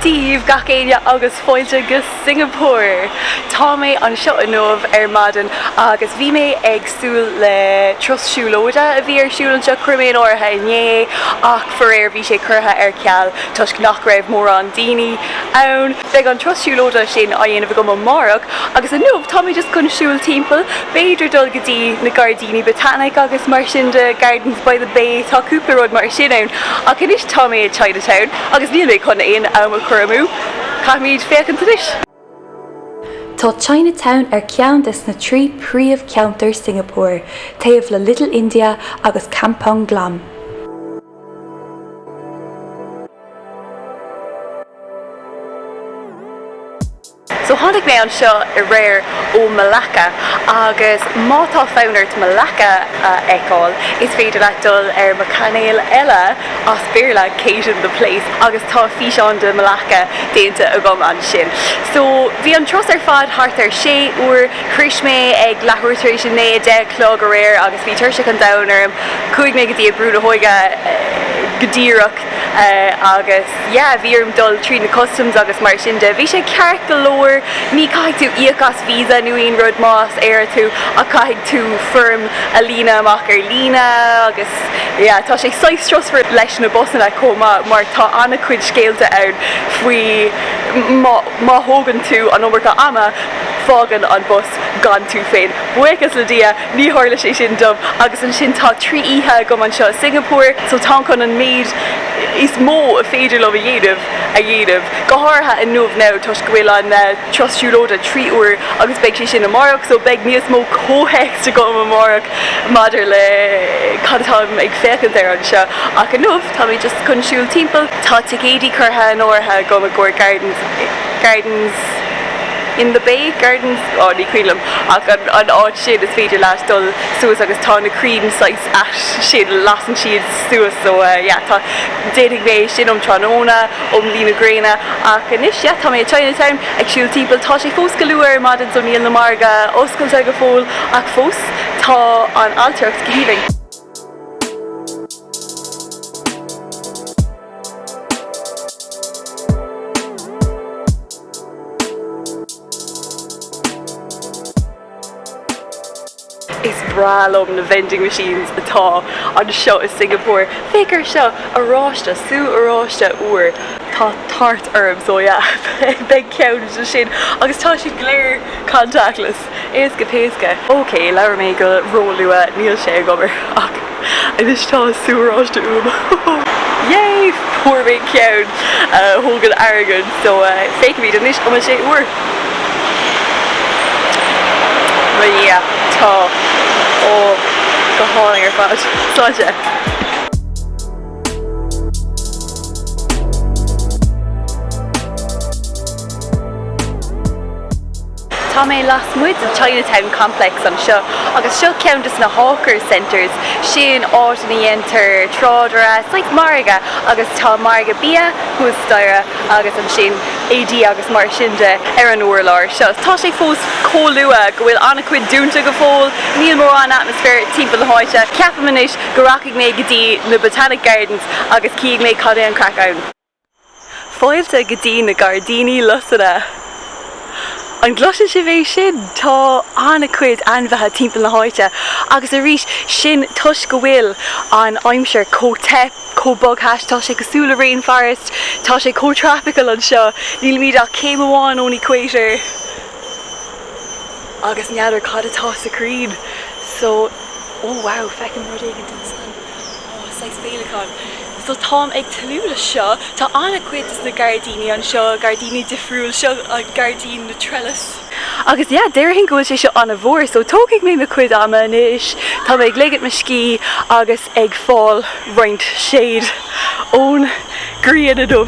Daoibh gach éinne agus fáilte go Singeapór! Tá mé anseo inniu ar maidin agus bhí mé ag súil le turas siúlóide a bhí ar siúl anseo, chuir mé in áirithe inné ach faraor bhí sé curtha ar ceal toisc nach raibh mórán daoine ann. Beidh an turas siúlóide sin á dhéanamh agam amárach agus inniu tá mé just chun siúl timpeall, b'fhéidir dul go dtí na Gairdíní Botanic agus mar sin de, Gardens by the Bay, tá cúpla rud mar sin ann. Ach anois tá mé i Chinatown agus níl mé chun aon am a chur amú, caithfimid féachaint anois. Tá Chinatown ar cheann des na trí príomhcheantar Singeapór, taobh le Little India agus Kampong Glam. So tháinig mé anseo aréir ó Malacca agus má tá fonn ort Malacca a fheiceáil is féidir leat dul ar mo chainéal eile, as Béarla, Case in the Place agus tá físeán de Malacca déanta agam ansin. So bhí an turas ar fad thart ar 6 uair. Shroich mé ag leathuair tar éis a naoi, 10 a chlog, aréir agus bhí tuirse an domhain orm. Chuaigh mé go dtí an brú na hóige go díreach agus yeah, bhí orm dul tríd na customs agus mar sin de. Bhí sé ceart go leor, ní caithfidh tú íoc as visa nó aon rud más Éireannach tú ach caithfidh tú foirm a líonadh amach ar líne agus yeah, tá sé saghas strusmhar leis na busanna chomh maith mar tá an-chuid scéalta ann faoi Má thógann tú an iomarca ama, fágann an bus gan tú féin. Buíochas le Dia, ní tharla sé sin dom. Agus ansin tá trí oíche agam anseo i Singeapór, so táim chun an méid is mó a féidir liom a dhéanamh a dhéanamh. Go háirithe inniu now toisc go bhfuil an turas siúlóide trí uair agus beidh sé sin amárach, so beidh níos mó comhthéacs agam amárach maidir le cad atáim ag féachaint air anseo. Ach inniu. Tá mé just chun siúl timpeall. Tá ticéidí curtha in áirithe agam i gcomhair Gardens, Gardens in the Bay? Gardens, oh ní cuimhin liom ach an an áit sin is féidir leat dul suas agus tá na crainn saghas ait sin lasann siad suas so eh yeah tá, d'fhéadfadh mé é sin um tráthnóna, um luí na gréine ach anois yeah tá mé i Chinatown ag siúl timpeall tá sé fós go luath ar maidin so níl na margadh oscailte go fóill ach fós tá an ailtireacht go haoibhinn. Is breá liom na vending machines atá anseo i Singeapór. Féach air seo! Oráiste, sú oráiste úr. Tá tart orm, so yeah, beidh ceann de sin. Agus tá siad go léir contactless. Éasca péasca. OK, labhair mé go róluath, níl sé ag obair ach anois tá sú oráiste uaim. Yay! Fuair mé ceann a thógann airgead, so féachaimid anois cúpla uair. Well yeah, tá. Ó, go hálainn ar fad. Sláinte. Tá mé lasmuigh den Chinatown Complex anseo agus seo ceann de na Hawkers Centres, sin áit ina dhéantar trádáil, like margadh agus tá margadh bia thuas staighre agus ansin éadaí agus mar sin de ar an urlár seo. Tá sé fós chomh luath go bhfuil an-chuid dúnta go fóill, níl mórán atmaisféar timpeall na háite. Ceapaim anois go rachaidh mé go dtí na Botanic Gardens agus cífidh mé cad é an chraic ann. Fáilte go dtí na Gairdíní Lusanna! An gcloiseann sibh é sin? Tá an-chuid ainmhithe timpeall na háite agus arís sin toisc go bhfuil an aimsir chomh te, chomh bogthais, tá sé cosúil le rainforest, tá sé chomh tropical anseo, nílimid ach céim amháin ón equator agus n'fheadar cad atá sna crainn seo, oh wow, feicim rud éigin ansan, oh, saghas féileacán, So táim ag tnúth le seo. Tá an-chuid des na gairdíní anseo, gairdíní difriúil. Seo é gairdín na dtreilísí. Agus yeah, déarfainn go bhfuil sé seo an-mhór, so tógfaidh mé mo chuid ama anois. Tá mé ag ligint mo scíth agus ag fáil roinnt shade ón ghrian inniu.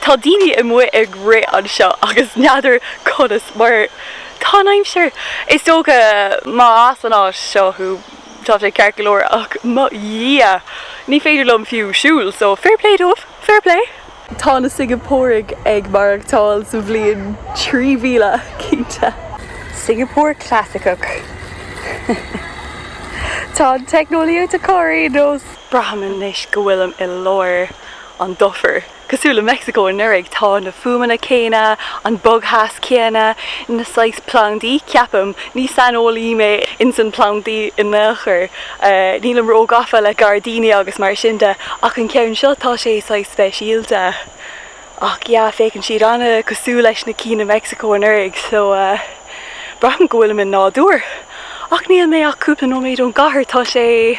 Tá daoine amuigh ag rith anseo agus n'fheadar conas mar tá an aimsir. Is dócha má as an áit seo thú tá sé ceart go leor ach mo dhia ní féidir liom fiú siúl so fair play dóibh, fair play. Tá na Singeapóraigh ag maireachtáil sa bhliain 3000 cinnte. Singapore clasaiceach. Tá an teicneolaíocht acu ar ndóigh. Braithim anois go bhfuilim i lár. an dufair. Cosúil le Meicsiceo anuraidh, tá na fuaimeanna céanna, an bogtheas céanna, na saghas plandaí, ceapaim, ní saineolaí mé ins na plandaí in aon chor, nílim ró-gafa le gairdíní agus mar sin de, ach an ceann seo, tá sé saghas speisialta. Ach yeah, féachann siad an-cosúil leis na cinn i Meicsiceo anuraidh, so braithim go bhfuilim i nádúr. Ach níl mé ach cúpla nóiméad ón gcathair, tá sé.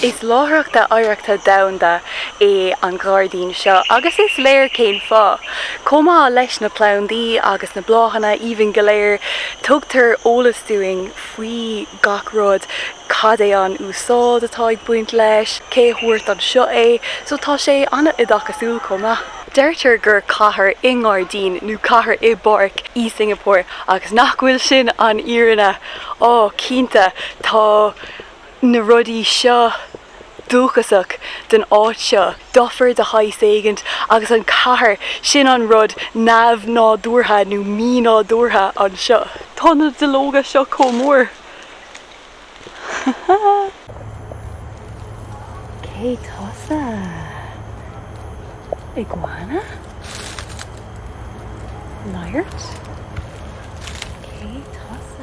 Is láithreacht oidhreachta domhanda é an gairdín seo agus is léir cén fáth. Chomh maith leis na plandaí agus na bláthanna aoibhinn go léir, tugtar eolas dúinn faoi gach rud, cad é an úsáid atá ag baint leis, cé a thug anseo é, so tá sé an-oideachasúil chomh maith. Deirtear gur cathair i ngairdín nó cathair i bpáirc í Singapore, agus nach bhfuil sin an fhírinne? Á, cinnte, tá. na rudaí seo dúchasach don áit seo, dufair de shaghas éigint agus an cathair, sin an rud neamh-nádúrtha nó mí-nádúrtha anseo. Tá na duilleoga seo chomh mór. Cé tusa? Iguana? Laghairt? Cé tusa?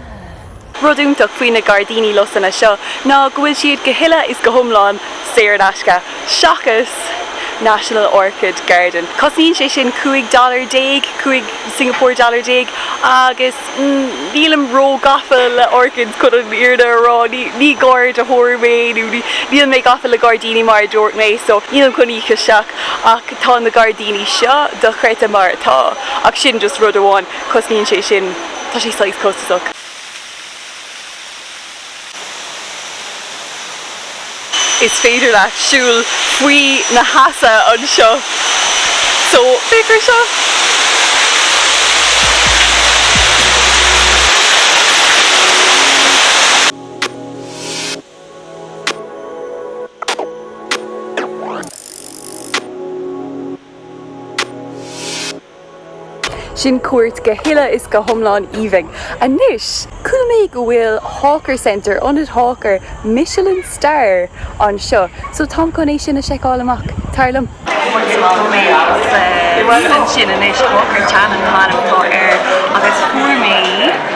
Rud iontach faoi na gairdíní lusanna seo ná go bhfuil siad go huile is go hiomlán saor in aisce, seachas National Orchid Garden. Cosnaíonn sé sin cúig dollar déag, cúig Singapore dollar déag, agus nílim ró-gafa le orchids chun an fhírinne a rá, ní garraíodóir mé nó níl mé gafa le gairdíní mar a dúirt mé, so nílim chun íoc isteach ach tá na gairdíní seo dochreidte mar atá. Ach sin just rud amháin, cosnaíonn sé sin. Tá sé saghas costasach. Is féidir leat siúl faoi na heasa anseo so féach ar seo. Sin cuairt go huile is go hiomlán aoibhinn. Anois, chuala mé go bhfuil Hawker Center, Ionad Hawker, Michelin Star anseo, so táim chun é sin a seiceáil amach, tar liom. Chuaigh mé go mé agus ansin anois Hawker Chan mar a thugtar air agus fuair mé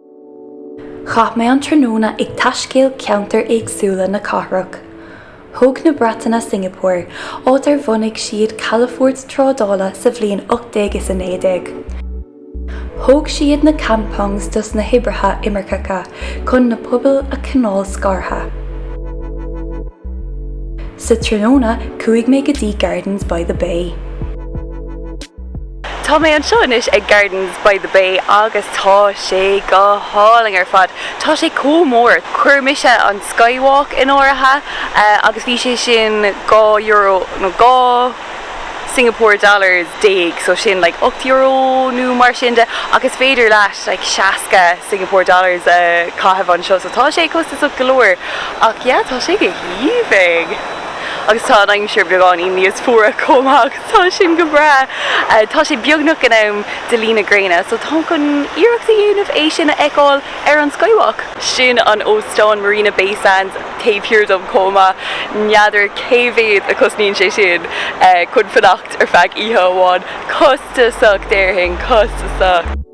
Chaith mé an tráthnóna ag taiscéal ceantair éagsúla na cathrach. Thóg na Breataine Singeapór, áit ar bhunaigh siad calafort trádála sa bhliain 1819. Thóg siad na kampongs dos na hoibrithe imirceacha chun na pobail a choinneáil scartha. Sa tráthnóna, chuaigh mé go dtí Gardens by the Bay. Tá mé anseo anois ag Gardens by the Bay agus tá sé go hálainn ar fad. Tá sé chomh mór, chuir mé an Skywalk in áirithe agus bhí sé sin dhá euro, nó dhá Singapore dollars déag, so sin like ocht euro nó mar sin de ach is féidir leat like seasca Singapore dollars a chaitheamh anseo so tá sé costasach go leor ach yeah tá sé go haoibhinn. Agus tá an aimsir beagáinín níos fuaire chomh maith. Tá sin go breá. Tá sé beagnach in am do luí na gréine, so táim chun iarracht a dhéanamh é sin a fheiceáil ar an Skywalk. Sin an óstán Marina Bay Sands taobh thiar dom chomh maith. N'fheadar cé mhéad a chosnaíonn sé sin chun fanacht ar feadh oíche amháin. Costasach, déarfainn. Costasach.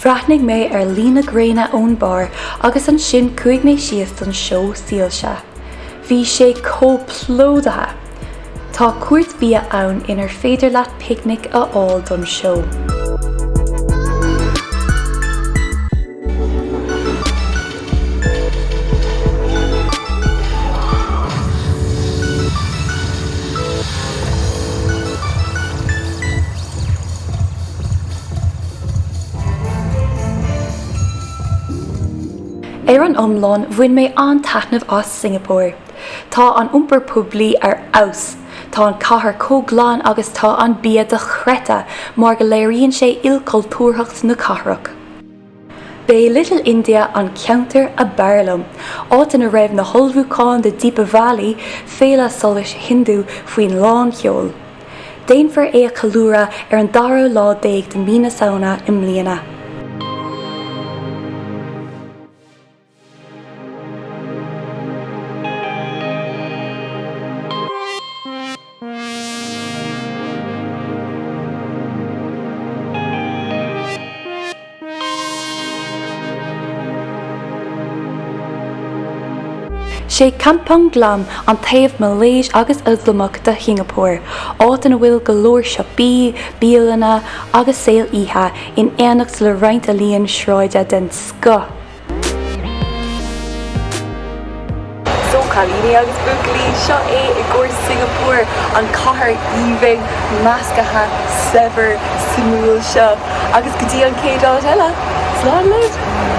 Bhreathnaigh mé ar luí na gréine ón barr agus ansin chuaigh mé síos don seó soilse. Bhí sé chomh plódaithe! Tá cúirt bia ann inar féidir leat picnic a fháil don seó. Ar an iomlán, bhain mé an-taitneamh as Singapore. Tá an iompar poiblí ar fheabhas, tá an chathair chomh glan agus tá an bia dochreidte mar go léiríonn sé ilchultúrthacht na cathrach. B'é Little India an ceantar ab fhearr liom, áit ina raibh na hullmhúcháin do Deepavali, féile solais Hindu, faoi lánseol. Déanfar é a cheiliúradh ar an dara lá déag de Mí na Samhna i mbliana. Is é Kampong Glam an taobh Malaeis agus Ioslamach de Shingeapór, áit ina bhfuil go leor siopaí, bialanna agus saol oíche in éineacht le roinnt ealaíon sráide den scoth. So, cailíní agus buachaillí, seo é i gcóir Singapore, an cathair aoibhinn, meascaithe, saibhir, suimiúil seo. Agus go dtí an chéad áit eile, slán leid!